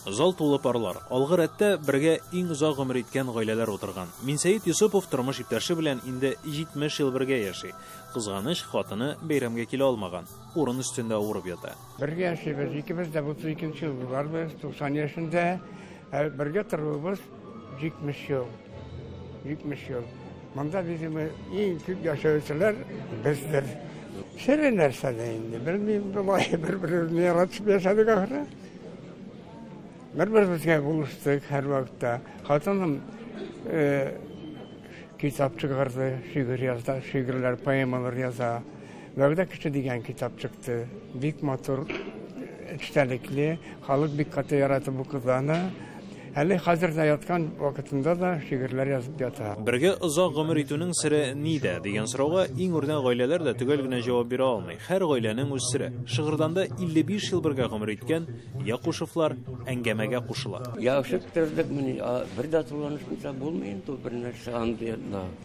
Зал тулы парлар. Алгы рәттә бергә иң озак гомер иткән гаиләләр утырган. Минсәет Йосыпов тормыш иптәше белән инде 70 ел бергә яши. Кызганыч, хатыны бәйрәмгә килә алмаган. урын өстендә авырып ята. Бергә яшибез, икебез дә 32 ел буларбыз, 90 яшендә. Ә бергә торуыбыз 70 ел. 70 ел. Монда видимо иң күп яшәүчеләр бездер. Сире нәрсәдә инде, белмим, болай бер-беребезне яратып яшәдек ахры. Бер-беребезгә булыштык һәр вакытта. Хатыным китап чыгарды, шигырь яза, шигырьләр, поэмалар яза. Вәгъдә кеше дигән китап чыкты. Бик матур, эчтәлекле. Халык бик каты ярата бу кызаны. Әле хәзер дә яткан вакытында да шигырьләр язып ята. Бергә озак гомер итүнең сере нидә? дигән сорауга иң үрнәк гаиләләр дә төгәл генә җавап бирә алмый. Һәр гаиләнең үз сере. Шыгырданда 55 ел бергә гомер иткән Якушевлар әңгәмәгә кушыла. Ябышып төздек мени, бер дә туланышмыйча булмый инде ул бернәрсә андый.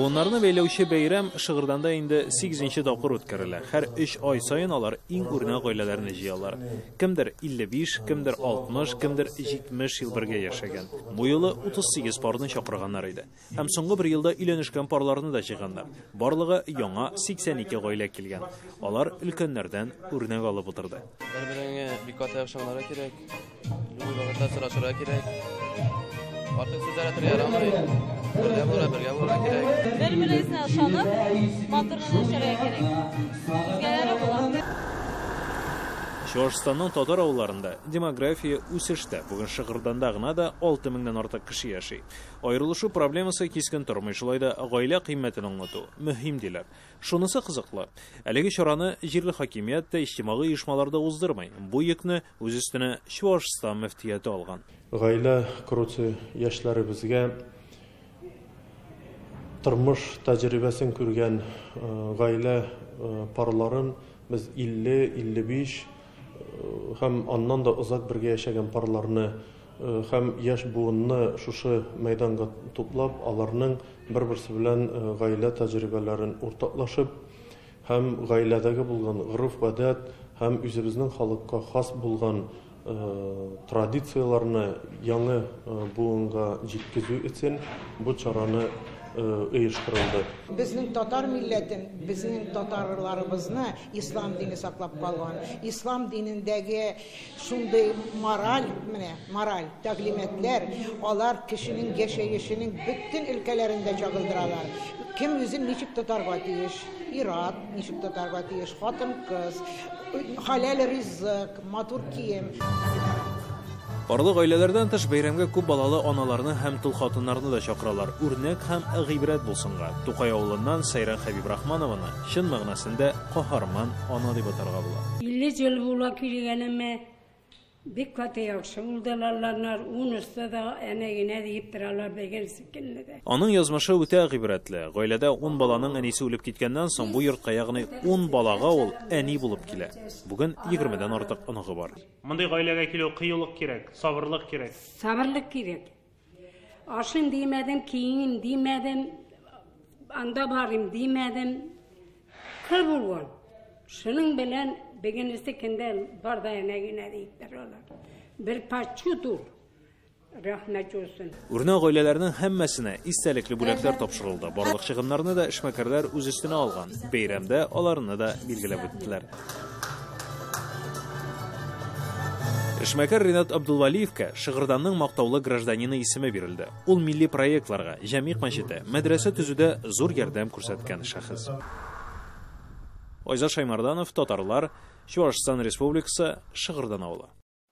Буыннарны бәйләүче бәйрәм Шыгырданда инде сигезенче тапкыр үткәрелә. Һәр өч ай саен алар иң үрнәк гаиләләрне җыялар. Кемдер 55, кемдер 60, кемдер 70 ел бергә яшәгән. Бу юлы 38 парны чакырганнар иде. Һәм соңгы бер елда өйләнешкән парларны да җыйганнар. Барлыгы яңа 82 гаилә килгән. Алар өлкәннәрдән үрнәк алып утырды. Бер-береңә бик каты ябышыңнары кирәк. Любой вакытта сорашырга кирәк. Артык сүз әйтергә ярамый. Бергә булырга, бергә булырга кирәк. Бер-берегезне ышанып, матур гына яшәргә кирәк. Үзгәләре була. Чуашстанның татар авылларында демография үсештә. Бүген Шыгырданда гына да 6 меңнән артык кеше яши. Аерылышу проблемасы кискен тормый, шулай да гаилә кыйммәтен аңлату мөһим, диләр. Шунысы кызыклы, әлеге чараны җирле хакимият тә, иҗтимагый оешмалар да уздырмый. Бу йөкне үз өстенә Чуашстан мөфтияте алган. Гаилә коручы яшьләребезгә тормыш тәҗрибәсен күргән гаилә парларын без 50, 55 һәм аннан да озак бергә яшәгән парларны һәм яшь буынны шушы мәйданга туплап, аларның бер-берсе белән гаилә тәҗрибәләрен уртаклашып һәм гаиләдәге булган гореф-гадәт һәм үзебезнең халыкка хас булган традицияләрне яңы буынга җиткезү өчен бу чараны оештырылды. Безнең татар милләтен, безнең татарларыбызны ислам дине саклап калган. Ислам динендәге Шундый мораль, менә мораль тәгълиматлар, алар кешенең яшәешенең бөтен өлкәләрен дә чагылдыралар. Кем үзен ничек тотарга тиеш, ир-ат ничек тотарга тиеш, хатын-кыз, хәләл ризык, матур кием. Барлык гаиләләрдән тыш бәйрәмгә күп балалы аналарны һәм тол хатыннарны да чакыралар, үрнәк һәм гыйбрәт булсынга. Тукай авылыннан Сәйран Хәбибрахманованы, Чын мәгънәсендә каһарман ана дип атарга була. Илле җел була килгәнемә, бик каты яхшы булдылалланар, унысы да әнә генә диеп торалар бегерсе көнне дә. Аның язмышы үтә гыйбрәтле. Гаиләдә ун баланың әнисе үлеп киткәннән соң бу йортка, ягъни ун балага ул әни булып килә. Бүген егермедән артык оныгы бар. Мондый гаиләгә килү кыюлык кирәк, сабырлык кирәк. Сабырлык кирәк. Ашыйм димәдем, киеним димәдем, анда барыйм димәдем. Кыр булган. Шуның белән бегенесе кендә бар да әнә генә диптер алар. Бер пачутур. Рәхмәт юсын. Үрнәк гаиләләрнең һәммәсенә истәлекле бүләкләр тапшырылды. Барлык чыгымнарны да эшмәкәрләр үз өстенә алган. Бәйрәмдә аларны да билгеләп үттеләр. Эшмәкәр Ринат Абдулвалиевка Шыгырданның мактаулы гражданины исеме бирелде. Ул милли проектларга, Җәмигъ мәчете, мәдрәсә төзүдә зур ярдәм күрсәткән шәхес. Айза Шаймарданов, Татарлар, Чуашстан Республикасы, Шыгырдан авылы.